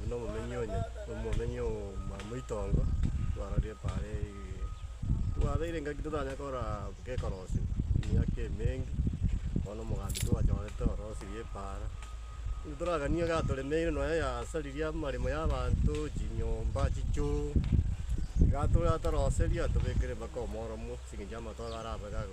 Buna omomenyi onya omomenyi omwabo itongo, twarorire paare twabeire ngaki totanya kora gekorosio emiaka emengi, bono omogambi twachorete orosi ria epaara, intwe toraganie iga toremeire nonya yasaririe amaremo ya abanto, chinyomba, chichoo, iga tore atoroseria tobekere mpaka omoro mo ase eng'encho amato iga are abagaga.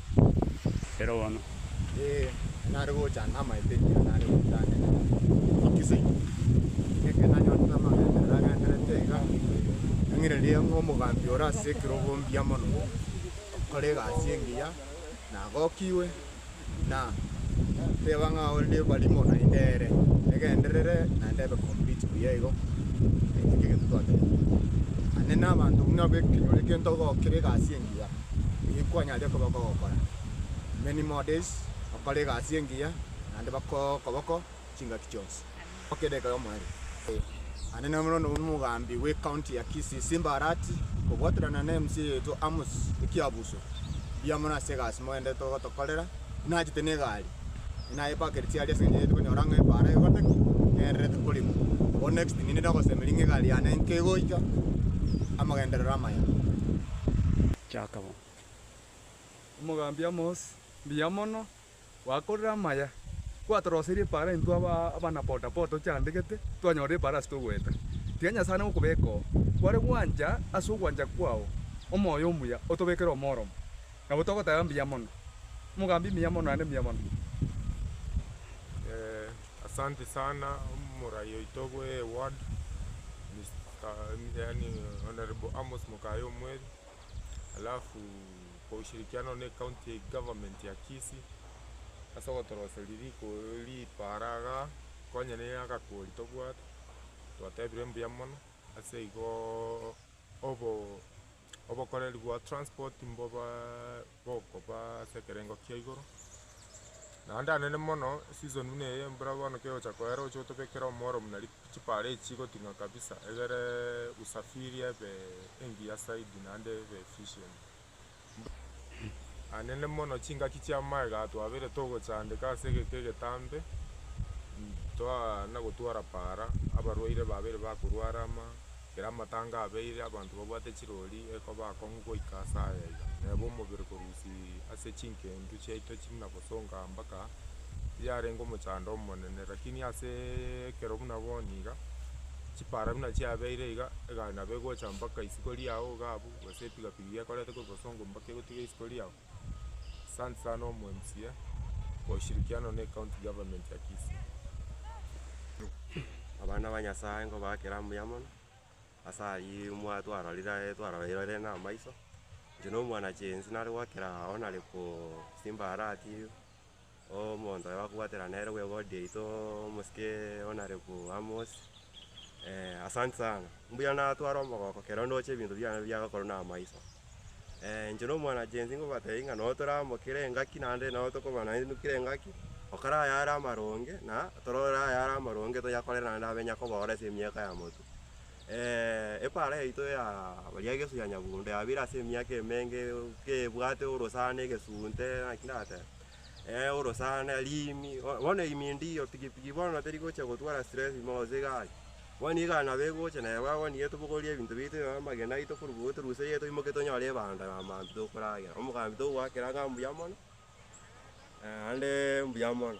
ere bono. Ee, ekero nare gocha ande amaete ekero nare gocha ande inkiso ime. Ekero nanyorire amagecho aria agenderete iga, nang'irereria ng'a omogambi ore ase ekerogo mbuya mono, okora egasi engiya, nagokigwe, na teba ng'a onde obarimo naende ere. Egenderere naende ebe complete buya igo, ekio n'kegento twatebete. Ande nabanto buna b'ekenyoro ekero ntogokire egasi engiya. Eyio kwanyare koba kogokora many more days, gokora egasi engiya, naende bakoe okoboko chingaki chionsi. Goka edageka y'omoerio. Ande nere buna omogambi bwe county ya Kisii Simba Arati kobwaterana ne MCA oito Amos Ekiabuso, mbuya mono ase egasi mogenderete gotokorera. Inachete n'egari, inayepakeretie aria ase engencho ninyarete konyora ng'a ebaara egota ki? Egendererete korema. Bono next ninde ndogosemeria ng'a egari yane inki egoita? Amagenderero amaya. Chaka bono. Omogambi Amos, mbuya mono, gwakorire amaya. Kwatoroseire ebaara intwe aba abana boda boda tochandegete, twanyorire ebaara ase togoeta. Tiga Nyasae ane gokobeka oo. Kware gwancha ase ogwancha kwao, omoyo omuya, otobekere omoromo. Nabo togoteba mbuya mono. Omogambi muya mono naende muya mono. Eeh asanti sana omorai oito bwe ward Mister yaani Honourable Amos Mokaya Omweri alafu kwa ushirikiano ne county government ya Kisii ase ogotoroseria riko ripaara igaa konya ne agakori tobwate twatebire mbuya mono ase igoo obo. Obokoreri bwa transport mboba bokoba ase ekerengo kia igoro, naende anene mono eseason buna eye embura bono kegocha koera oche otobekere omoro muna ri chipara echi chigoting'a kabisa egere usafiri ebe engiya zaidi naende ebe efficient. Anene mono chingaki chia amaye igaa twabeire togochandeka ase egeka egetambe twaana gotwara para abarwaire babeire bakorwara ama. Kera amatango abeire abanto babwate chiroori ekoba akong'u goika ase aya iga, na ebe omobere korusi ase chingencho chiaito chiri na bosonga mbaka yarenge omochando omonene. Lakini ase ekero buna boni iga, chipara buna chiabeire iga, egari nabo egocha mbaka isiko riao iga abwo, gose epigapigi gekorete korwa bosongo mbaka egotiga isiko riao. Asante sana omo MCA kwa ushirikiano ne county government ya Kisii. Abana ba Nyasaye ngobaakera mbuya mono ase ayio mwa twarorire aye twararoire na amaiso. Inche nomwana chensi nare goakera ao nare kosimba arati. omonto oyo bakobwaterana nere bwe ward yaito omosike honorable Amosi, asante sana, mbuya natware omogoko kero onde oche ebinto biane biagokorwa na amaiso. inche na omwana gen z nkobatebia ng'a nabo toramokera engaki naende nabo tokoba naye inukire engaki, okore ayare amaronge na torore ayare amaronge toyakorere naende abe nyakobagoresia emiaka ya motwe. Epaara yaito ya baria Yeso ya Nyabuundo yabeire ase emiaka emenge kebwate orosana, egesunte, naki ndateba, eh, orosana, riimi, bono ime endi iyo pikipiki bono teri gocha gotwara stress ime gose iga aria, bono nigo egana nabo egocha naye bono nigo etobogoria ebinto biaito ebi amagena aito korwa gose rusa yaito toimoke tonyore ebando na amaambia tokoragera, omogambi togoakera ng'a mbuya mono, naende mbuya mono.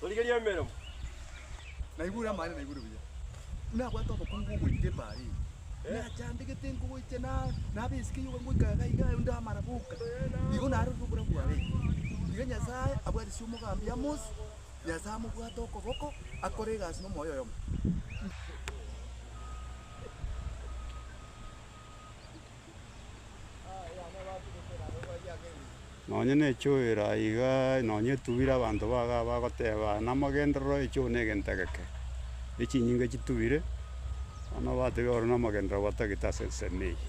Torigerie emeremo. Naigure amani, naigure buya. Nabwate obokungu bw'ogoika epaara eye. Nachandegete nkogocha na nabe esike yoka ngoika iga iga aye onde amara boka. Igo narorire oborabu bwaye iga. Iga Nyasae abwatisi omogambi Amos, Nyasae amobwate okoboko, akore egasi nomoyo oyomo. Nonye nechoera iga nonye etubire abanto bago aba bagoteba namogendere ororo echo negento egeke, echinyinga chitubire bono batebia ore namogendero obwo atagete ase ensemo eye.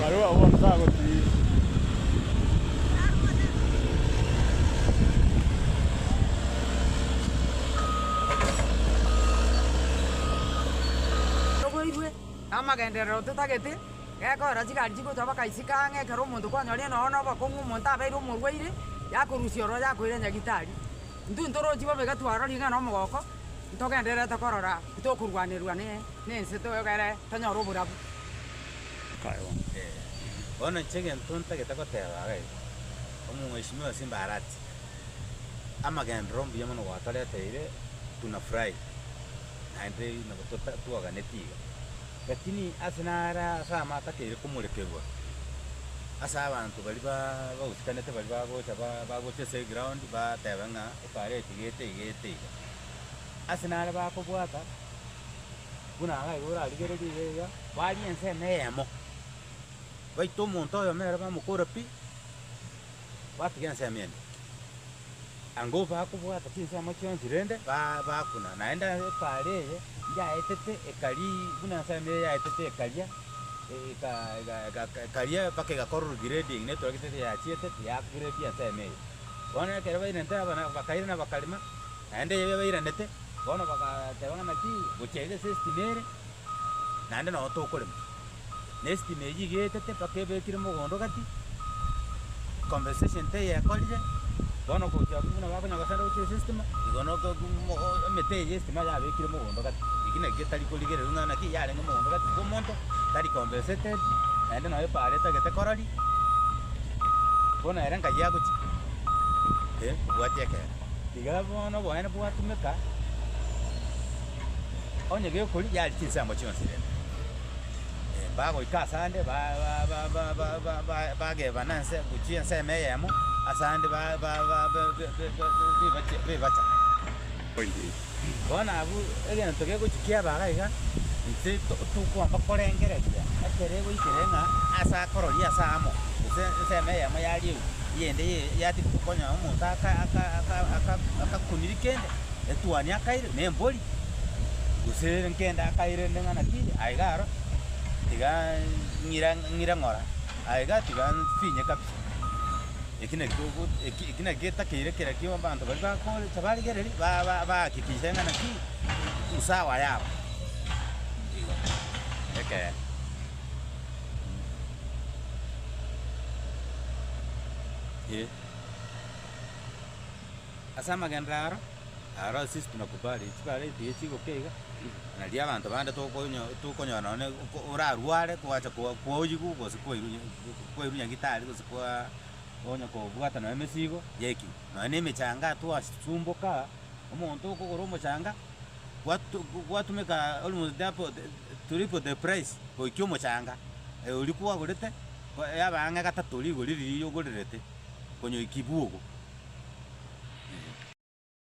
Barua agwo onde tagotiga. Toboirwe namagenderero totagete, gekorera chigari chigocha baka isiko ang'e ekero omonto kwanyorire nonya nobokong'u omonto abeire omorwaire, yakorusia ororo yakoira nyagitari. Intwe ntoroche bobe iga twaroria ng'a nomogooko, ntogendererete korora tokorwanerwa nense toegere tonyore oborabu. Bono inche egento ntagete goteba iga iga, Omweshimiwa Simba Arati, amagenderero mbuya mono gwatoreteire, tunafurahi naende nabo twoganetie iga. Lakini ase nare ase amo atakeire komorekerwa ase abanto baria bagotikanete baria bagocha bagote ase egraondi batebe ng'a ekare eye tiga ete iga ete iga. Ase nare bakobwata buna iga iga orarigererie iga iga barie ensemo eyemo baite omonto oyomo ere bamokora pi Batiga ensemo ende ango bakobwata chinsemo chionsi, rende bagakuna. Naende efaari eye yaetete ekari buna ensemo eye yaetete ekaria, ekaria mpaka egakorerwa grading ne etractor eria yachiete yagredi ensemo eye. Bono ekero bairente abana bakairana bakarema, naende eyio bairanete bono bagateba ng'a naki gochia iga esesitini ere naende nabo tokorema. na esitima eyio igetete mpaka ebekire mogondo gati, compensation teyekorire, bono gochia abwo buna bakonya gosara gochia ase esitima, igo no go go mo o emete eye ya esitima yabekire mogondo gati, eki naki getari korigereria buna naki yarenge mogondo gati bwa omonto, tari compensated, naende nonye epaara etagete korori, bono ere nkai agochi eh obwati ekero. Iga bono oboene bwatumeka. Onye gekori yari chinsambo chionsi rende, bagoika ase ande bagebana ense gochia ensemo eyemo ase ande ribacha. Bono abwo egento gegochia kiaba iga iga, intwe tokoamba korengereria ekero egoikire ng'a ase akororia ase amo gose ensemo eyemo yari ewi, eyende yatiga kokonya omonto akakuniri kende etuani akaire. nembori, gose nkende akairende ng'a naki aye iga aro, tiga ng'ira ng'ire ng'ora, aye iga tiga nfinye kabisa. Eki naki togo eki eki naki getakeire kera kio abanto baria bakoorokia barigereria ba ba bahakikishe ng'a naki usawa yabo, igo ekeene. Ee, ase amagenderero aro. Aro ase isiko na Kubali, isiko aro etiga echigoka iga, nario abanto bande tokonyo tokonyora nonye oko orarware kwacha kwa kwaoyigwa gose kwairwa nyi kwairwa nyagitari gose kwaa onya kobwata nonye emesigo ya ekimo. Nonye na emechanga twasumboka, omonto okogora omochanga, gwatu gwatumeka almost double the triple the price goikia omochanga oria kwagorete kwa yaba ang'e gatato rigori riria ogorerete konyoiki bwogo eeh.